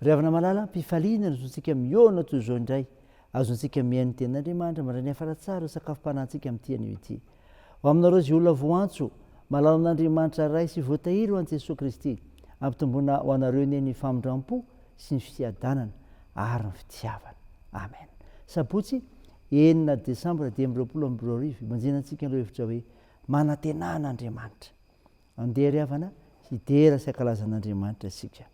Ry havana malala, ampifaliana ny zontsika mihaona toy izao indray, azontsika mihaino ny Tenin'Andriamanitra mandray ny hafara tsara eo sakafom-panahintsika amin'ity anio ity. Ho aminareo izay olona voantso, malala an'Andriamanitra Ray sy voatahiry ho an'i Jesoa Kristy, ampitomboina ho anareo anie ny famindram-po sy ny fiadanana ary ny fitiavana. Amen. Sabotsy, enina desambra dimy amby roapolo amby roa arivo, ibanjinantsika ireo hevitra hoe, Manantenà an'Andriamanitra. Andeha ry havana hidera sy hankalaza an'Andriamanitra isika.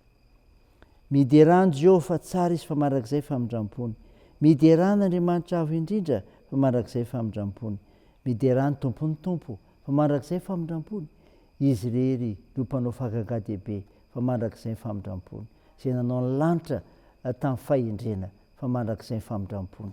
Miderà an'i Jehovah fa tsara izy fa mandrakizay famindram-pony. Miderà an'Andriamanitra Avo Indrindra fa mandrakizay famindram-pony. Miderà ny Tompon'ny Tompo fa mandrakizay famindram-pony. Izy irery no Mpanao fahagagà dehibe fa mandrakizay famindram-pony. Izay nanao ny lanitra tamin'ny fahendrena fa mandrakizay famindram-pony.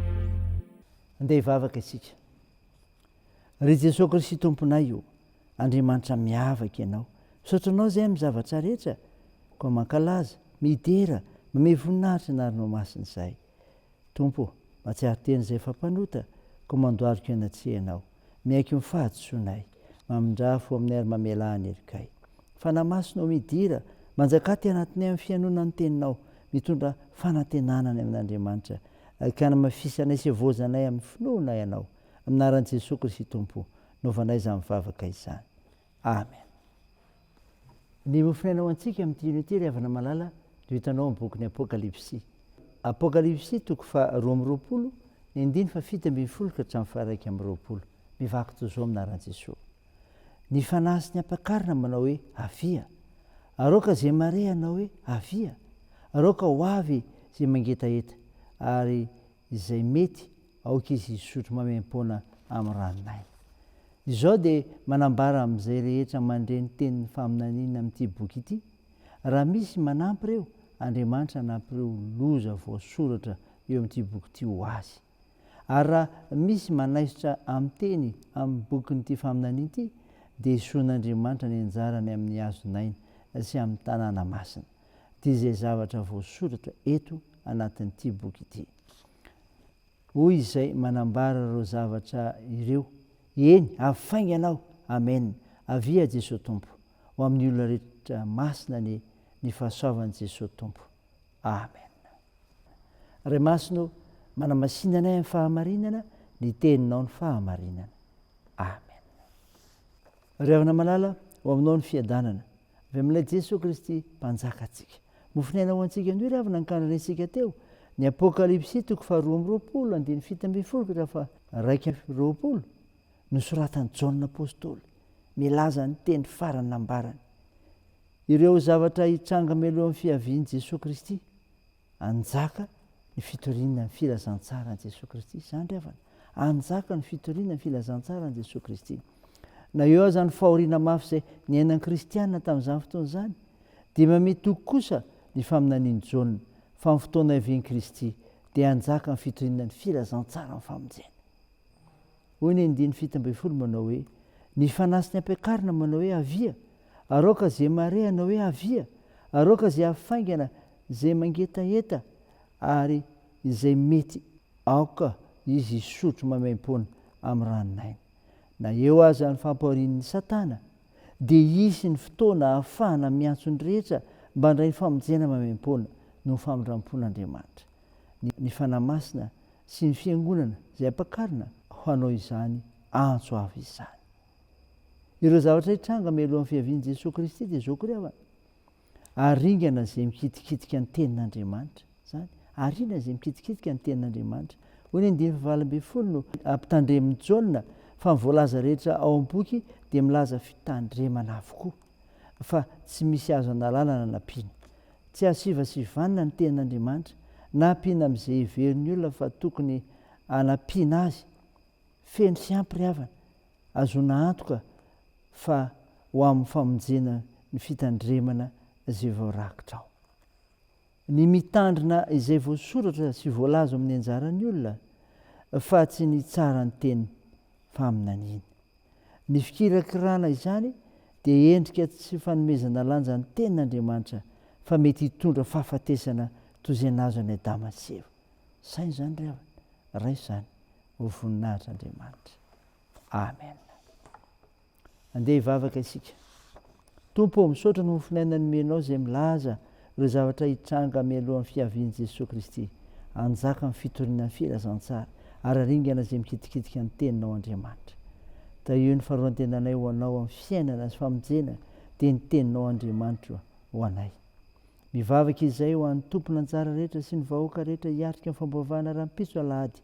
Andeha hivavaka isika. Ry Jesoa Kristy Tomponay o, Andriamanitra miavaka Ianao. Misaotra Anao izay amin'ny zavatra rehetra, koa mankalaza, midera, mamehy voninahitra ny Arinao Masina izahay. Tompo o, mahatsiaro tena izay efa mpanota, koa mandohalika eny an-tsehanao. Miaiky ny fahadisoanay, mamindrà fo aminay ary mamelà ny helokay. Fanahy Masina ô midira, manjakà aty anatinay amin'ny fihainoana ny Teninao, mitondra fanantenana any amin'Andriamanitra, ka anamafisanay sy evaozanay amin'ny finoana Ianao. Amin'ny anaran'i Jesoa Kristy Tompo, novanay izany vavaka izany. Amen. Ny ho fiainana ho antsika amin'ity hino ity ry havana malala no hitanao amin'ny bokin'ny Apokalypsy. Apokalypsy toko faha roa amby roapolo, ny andininy faha fito ambin'ny folo ka hatramin'ny faha iraika amby roapolo. Mivaky toy izao minaran'i Jesoa. Ny fanahy sy ny ampakarina manao hoe, Avia! Aroaka izay mareha hanao hoe, Avia! Aroaka ho avy izay mangetaheta! Ary izay mety aoka izy hisotro maimaim-poana amin'ny ranon'aina. Izao dia manambara amin'izay rehetra mandre ny tenin'ny faminaniana amin'ity boky ity, raha misy manampy ireo, Andriamanitra hanampy ireo loza voasoratra eo amin'ity boky ity ho azy. Ary raha misy manaisotra amin'ny teny amin'ny bokin'ity faminaniana ity, dia esoin'Andriamanitra ny anjarany amin'ny hazon'aina sy amin'ny tanàna masina. dia izay zavatra voasoratra eto anatin'ity boky ity. Hoy izay manambara ireo zavatra ireo, Eny, avy faingana aho, amen, avia Jesoa Tompo, ho amin'ny olona rehetra masina anie ny fahasoavan'i Jesoa Tompo, amen. Ray Masina ô, manamasina anay amin'ny fahamarinana, ny teninao ny fahamarinana, amen. Ry havana malala, ho aminao ny fiadanana. Avy amin'ilay Jesoa Kristy Mpanjakantsika. Mofon'aina ho antsika anio ry havana ny kandrinaintsika teo ny Apokalypsy toko faharoa amby roapolo andininy fito ambin'ny folo ka hatramin'ny faha-iraika amby roapolo, nosoratan'i Jaona Apostoly, milaza ny teny farany nambarany. Ireo zavatra hitranga mialohan'ny fiavian'i Jesoa Kristy. Hanjaka ny fitoriana ny filazantsaran'i Jesoa Kristy. Izany ry havana. Hanjaka ny fitoriana ny filazantsaran'i Jesoa Kristy. Na eo aza ny fahoriana mafy izay niainan'ny kristiana tamin'izany fotoana izany, dia mamia toky kosa ny faminanian'i Jaona fa amin'ny fotoana hiavian'i Kristy dia hanjaka ny fitoriana ny filazantsaran'ny famonjena. Hoy ny andininy fito ambin'ny folo manao hoe, Ny fanahy sy ny ampiakarina manao hoe, Avia! Araoka ze marehanao hoe, Avia! Araoka ze hafaingana, ze mangetaheta, ary izay mety aoka izy hisotro maimaimpoana amin'ny ranon'aina. Na eo aza ny fampahorian'i Satana, dia hisy ny fotoana hahafahana miantso ny rehetra mba handray famonjena maimaimpoana noho ny famindram-pon'Andriamanitra. ny Fanahy Masina sy ny Fiangonana izay ampakarina ho hanao izany antso avo izany. Ireo zavatra hitranga mialohan'ny fiavian'i Jesoa Kristy dia izao koa ry havana, aringana izay mikitikitika ny tenin'Andriamanitra, izany, ariana izay mikitikitika ny tenin'Andriamanitra. Hoy ny andininy fahavalo ambin'ny folo no ampitandremin'i Jaona fa ny voalaza rehetra ao amin'ny boky dia milaza fitandremana avokoa. fa tsy misy azo analana na nampiana. Tsy azo sivasivanina ny tenin'Andriamanitra na ampiana amin'izay heverin'ny olona fa tokony hanampiana azy. Feno fiampiriavana, ahazoana antoka fa ho amin'ny famonjena ny fitandremana izay voarakitra ao. Ny mitandrina izay voasoratra sy voalaza ao amin'ny anjaran'ny olona fa tsy ny tsaran'ny teny faminaniana. Ny fikirakirana izany dia endrika tsy fanomezana lanja ny tenin'Andriamanitra fa mety hitondra fahafatesana toy izay nahazo an'i Adama sy Eva. Saino izany ry havana, raiso izany ho voninahitr'Andriamanitra. Amen. Andeha hivavaka isika. Tompo ô, misaotra ny mofon'aina nomenao izay milaza ireo zavatra hitranga mialohan'ny fiavian'i Jesoa Kristy. Anjaka amin'ny fitoriana ny filazantsara, ary aringana izay mikitikitika ny Teninao Andriamanitra. Tahio ny faharoan-tenanay ho Anao amin'ny fiainana sy famonjena dia ny Teninao Andriamanitra ho anay. Mivavaka izay ho an'ny tompon'anjara rehetra sy ny vahoaka rehetra hiatrika ny famboavahana rahampitso alahady.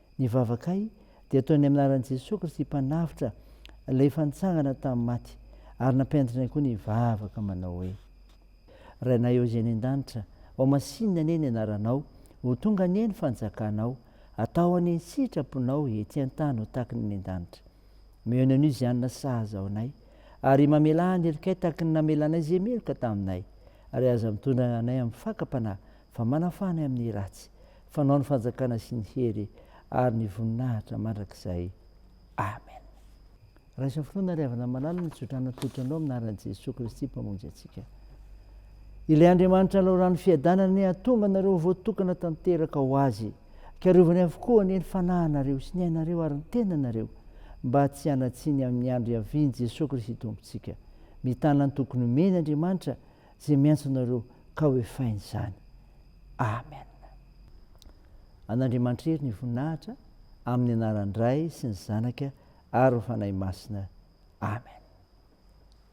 Ny vavakay dia ataonay amin'ny anaran'i Jesoa Kristy Mpanavotra Ilay efa nitsangana tamin'ny maty, ary nampianatrinay koa ny hivavaka manao hoe. Rainay ao izay any an-danitra, ao masinina anie ny anaranao, ho tonga anie ny fanjakanao, atao anie ny sitraponao ety an-tany ho tahaky ny any an-danitra. Omeo ny Anosianina sahaza ao anay, ary mamelà ny helokay tahaky ny namelanay izay meloka taminay, ary aza mitondra anay amin'ny fakam-panahy fa manafana amin'ny ratsy, fanao ny fanjakana sy ny hery ary ny voninahitra mandrakizay. Amen. Raiso amin'ny finoana ry havana malala ny tsodrano atolotro anao amin'ny anaran'i Jesoa Kristy Mpamonjy antsika. Ilay Andriamanitra hanao rano fiadanana anie hahatonga anareo ho voatokana tanteraka ho Azy. Karovany avokoa anie ny fanahinareo sy ny ainareo ary ny tenanareo mba tsy hanatsiny amin'ny andro hiavian'i Jesoa Kristy Tompontsika. Mitana ny tokony omeny Andriamanitra Ze miantso anareo ka ho efainy izany. Amen. An'Andriamanitra Hery ny voninahitra amin'ny anaran-dRay sy ny Zanaka ary ny Fanahy Masina. Amen.